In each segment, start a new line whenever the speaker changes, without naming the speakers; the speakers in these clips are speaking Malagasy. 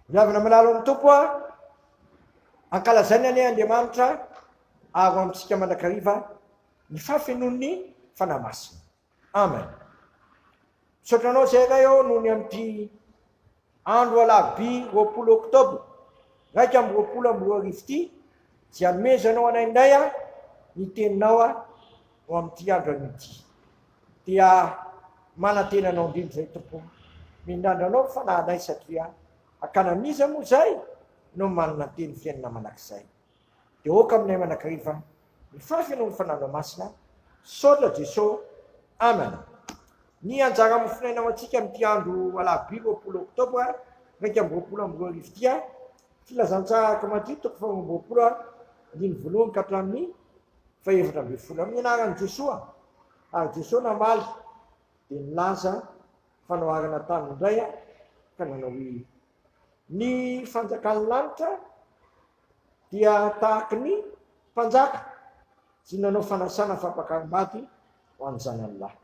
Miavona manalo amin'ny Tompo a! Ankalazaina anie Andriamanitra avo amintsika mandrakariva ny fahafenoan'ny Fanahy Masina. Amen. Misaotra anao Zairay ô noho ny amin'ity andro alarobia roapolo oktobra raika amby roapolo amby roa arivo ity izay anomezanao anay indray a ny teninao a ho amin'ity andro anio ity. Dia manantena anao indrindra izay Tompo ô. Mindrandra anao ny fanahinay satria hakana amin'iza moa izay no manantena ny fiainana manak'izay. Dia aoka aminay manakariva ny fahafenoan'ny Fanahinao Masina. Misaotra Jeso. Amen. Ny anjara mofonaina ho antsika amin'ity andro alarobia roapolo oktobra iraika amby roapolo amby roa arivo ity a. Filazantsaraka Matio toko faharoa amby roapolo ary andininy voalohany ka hatramin'ny fahefatra ambin'ny folo amin'ny anaran'i Jesoa, ary Jesoa namaly dia nilaza fanoharana taminy indray aho ka nanao hoe, Ny fanjakan'ny lanitra dia tahaky ny mpanjaka izay nanao fanasana fampakaram-bady ho an'ny zanany lahy,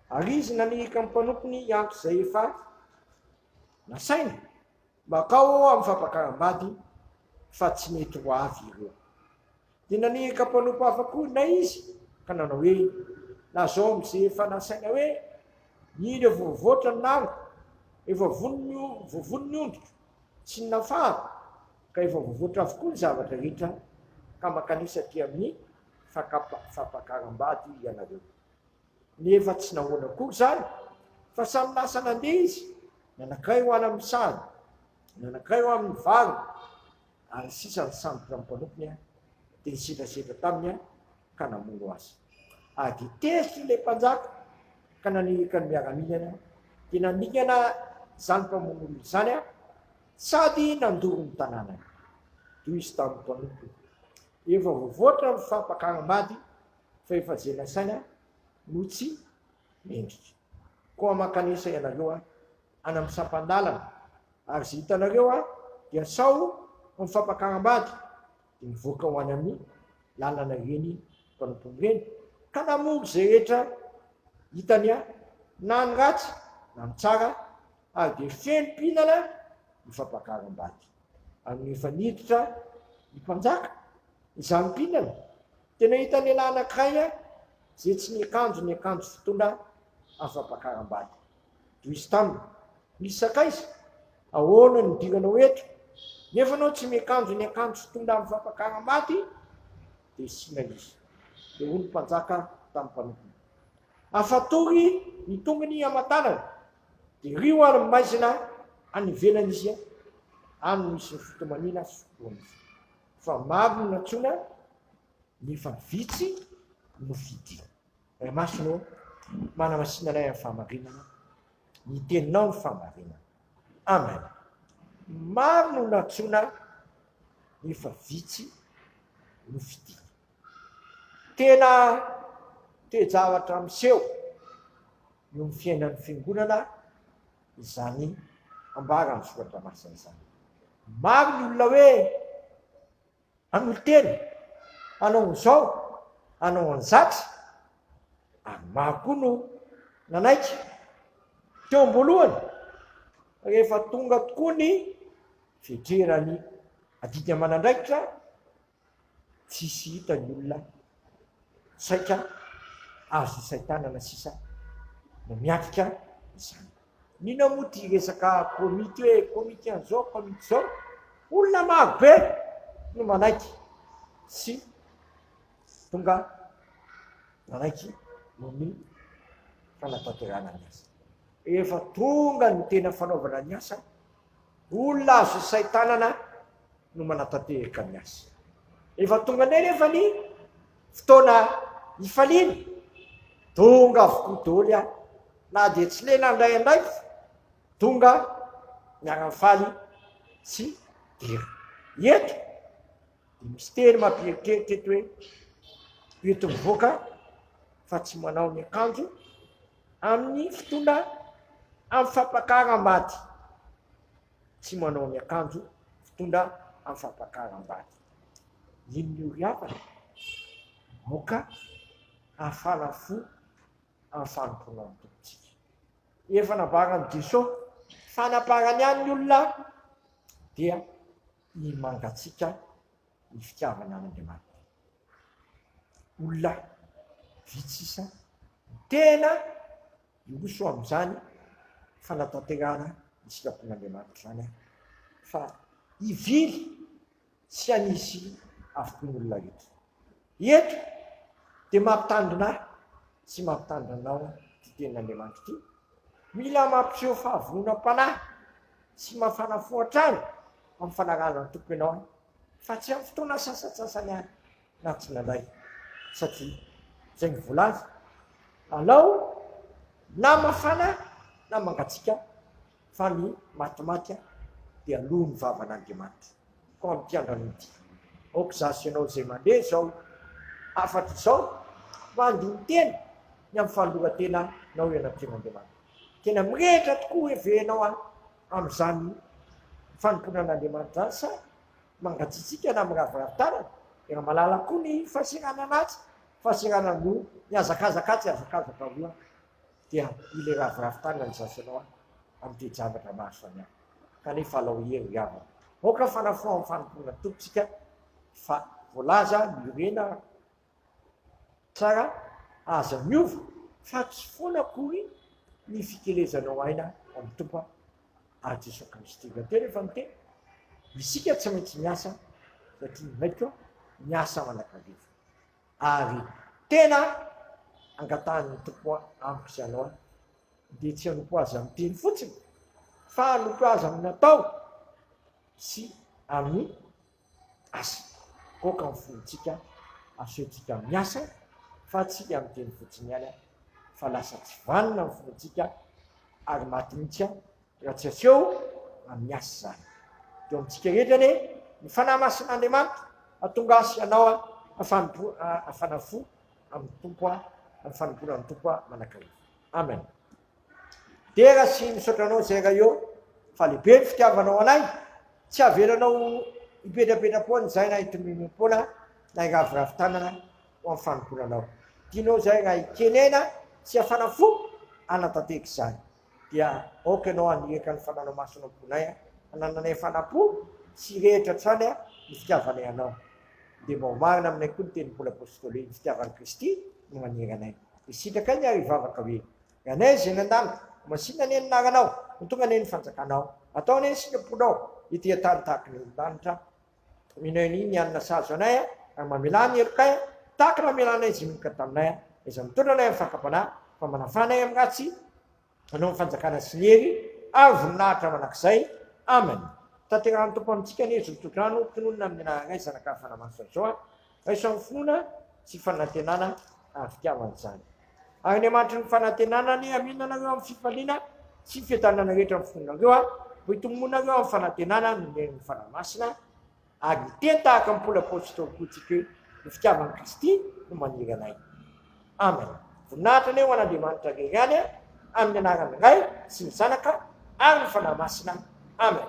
ary izy nanirika ny mpanompony hiantso izay efa nasainy Makao ao amin'ny fampakaram-bady fa tsy mety ho avy ireo. Dia naniraka mpanompo hafa koa ilay izy ka nanao hoe, Na zao amin'izay efa nasaina hoe, Indro efa voavoatra ny làlako, efa voavony ny ondriko sy ny nafahako, ka efa voavoatra avokoa ny zavatra rehetra, ka mankanesa aty amin'ny fampakaram-bady ianareo. Nefa tsy nahoana akory izany, fa samy lasa nandeha izy, nanakay ho any amin'ny sahany, nanakay ho amin'ny valiny, ary sisa nisambotra ny mpanompony dia nisedrasedra taminy ka namono azy. Ady tezitra ilay mpanjaka ka naniraka ny miaramilany dia naningana izany mpamono olona izany sady nandoro ny tanànany. Toy izy tamin'ny mpanompony, Efa voavoatra ny fampakaram-bady fa efa jena saina no tsy mendrika. Koa mankanesa ianareo an any amin'ny sampan-dalana ary ze hitanareo an dia sao ho mifampakaram-bady dia mivoaka ho any amin'ny lalana ireny mpanompony ireny ka namory ze rehetra hitany an na ny ratsy na ny tsara ary dia feno mpihinana ny fampakaram-bady. Ary rehefa niditra ny mpanjaka izany mpihinana Tena hita lehilahy anankiray izay tsy niakanjo ny akanjo fitondra afa-pakaram-bady. Tohizo taminy. Misy sakaiza? Ahoana no idiranao eto? Nefa ianao tsy miakanjo ny akanjo fitondra afa-pakaram-bady? Dia sina izy. Dia hoy ny mpanjaka tamin'ny mpanompony, Afatory ny tongony aman-tanany, dia rio ary maizina any ivelany izy, any no hisy ny fitomaniana sy fikoronana. Fa maro no nantsoina nefa vitsy no fidiny. Ray Masina ô, manamasina anay amin'ny fahamarinana, ny teninao no fahamarinana. Amen. Maro no nantsoina nefa vitsy no fidiny. Tena toe-javatra miseho eo amin'ny fiainan'ny fiangonana izany ambara amin'ny soratra masina izany. Maro ny olona hoe hanolo-tena, hanao an'izao, hanao an'izatra, ary maro koa no nanaiky. Teo am-boalohany, rehefa tonga tokoa ny fidreran'ny adidy aman'andraikitra, tsisy hita ny olona saika azy isaitanana sisa no miatrika izany. Nina moa ty resaka komity hoe komity an'izao komity izao, olona maro be no manaiky sy tonga manaiky ny fanatanterahana ny asa. Rehefa tonga ny tena fanaovana ny asa, olona azo isaitanana no manatanterka ny asa. Rehefa tonga indray nefa ny fotoana hifaliana, donga avokoa daholo ihany. Na dia tsy lena indray andraikitra, donga miara-mifaly tsy dera. Eto, dia misy teny mampieritreritra eto hoe, eto mivoaka fa tsy manao ny akanjo amin'ny fotoana amin'ny fampakaram-bady. tsy manao ny akanjo fitondra am fampakaram-bady. Inn io ry havana? Aoka hafana fo am fanompoana ny Tompontsika. Efa nambaran'i Jeso fanaparany any ny olona dia ny mangatsika ny fitiavana an Andriamanitra. Olona vitsy sisa no tena. Hiroso amin'izany fanatanterahana ny sitrapon'Andriamanitra izany aho, fa hivily tsy hanisy avokoa ny olona rehetra. Eto dia mampitandrina ahy sy mampitandrina anao ity tenin'Andriamanitra ity. Mila mampiseho fahavononam-panahy sy mafana fo hatrany amin'ny fanarahana ny Tompo ianao, fa tsy amin'ny fotoana sasantsasany ihany. na tsy nandray satria zay ny volaza anao na mafana na mangatsiaka fa ny matimaty a de aloa ny vavan'Andriamanitra koa amty andrano ty ok za sy anao zay mandre zao afatra zao mba handini tena ny am fanoloratena nao eo anatrehan'Andriamanitra tena mirehitra tokoa hoe ve enao a amzany fanompoana an'Andriamanitra any sa mangatsitsiaka na miraviravy tanana, i Ramalala koa ny fasirana anaty, fasirana loha, mihazakazaka atsy, mihazakazaka aroa, dia ilay raviravy tanana ny zafinao an, amin'ny toe-javatra maro samihafa, kanefa alao hery ry havana, aoka fanafoan'ny fanompoana ny Tompontsika fa voalaza ny orena, Tsara aza miova fa tsy foana akory ny fikelezanao aina amin'ny Tompo aho Jesoa Kristy. Raha tena efa miteny, isika tsy maintsy miasa satria ny Raiko miasa manakariva. Ary tena angatahan'ny Tompo amiko sy anao dia tsy hanompo Azy amin'ny teny fotsiny fa hanompo Azy amin'ny natao sy amin'ny asa. Aoka ny fontsika asehontsika miasa fa tsy amin'ny teny fotsiny ihany fa lasa tsy vanona ny fontsika ary maty mihitsy raha tsy aseho amin'ny asa izany. Dia eo amintsika rehetra anie ny Fanahy Masin'Andriamanitra hatonga azy hanao ny fanompoana fo amin'ny Tompo, ny fanompoana ny Tompo manakariva. Amen. Dera sy misaotra anao Zairaio fa lehibe ny fitiavanao anay, tsy avelanao hipetrapetra-poana izahay na hitomimim-poana na hiraviravy tanana ho amin'ny fanompoananao. Tianao izahay raha hikenena sy hafana fo hanatanteraka izany. Dia aoka ianao haniraka ny fananao masina ao am-ponay hanananay fanampo sy hirehitra hatrany ny fitiavanay anao. Dia mba ho marina aminay koa ny tenin'i Paoly Apôstôly hoe, Ny fitiavan'i Kristy no manera anay. Dia sitrakay ny ary hivavaka hoe, Ganais eny an-danitra, ho masina anie ny naranao, ho tonga anie ny fanjakanao, atao anie ny sikamponao ety an-tany tahaka ny olon-danitra, mino ahy ny hanina sahaza anay a, ary mamelà ny helokay a, tahaka namelanay izay minoka taminay a, na izay mitondra anay amin'ny fakam-panahy, fa manafà anay amin'ny ratsy, anao ny fanjakana sy ny hery ary voninahitra mandrakizay. Amen. Tanterahan'ny Tompo amintsika anie izao tokantrano, tononina amin'ny anaranay, Zanakay, Fanahy Masina izao a. Raisan'ny finoana sy fanantenana ary fitiavana izany. Ary ny amanitry ny fanantenana anie amin anareo amin'ny fifaliana sy fiadanana rehetra amin'ny finoanareo a, mba hitomboanareo amin'ny fanantenana noho ny herin'ny Fanahy Masina, ary ho teny tahaka ny Paoly Apôstôly koa isika hoe ny fitiavan'i Kristy no maniry anay. Amen. Voninahitra anie ho an'Andriamanitra Ray ihany a, amin'ny anaran'ny Ray sy ny Zanaka ary ny Fanahy Masina. Amen.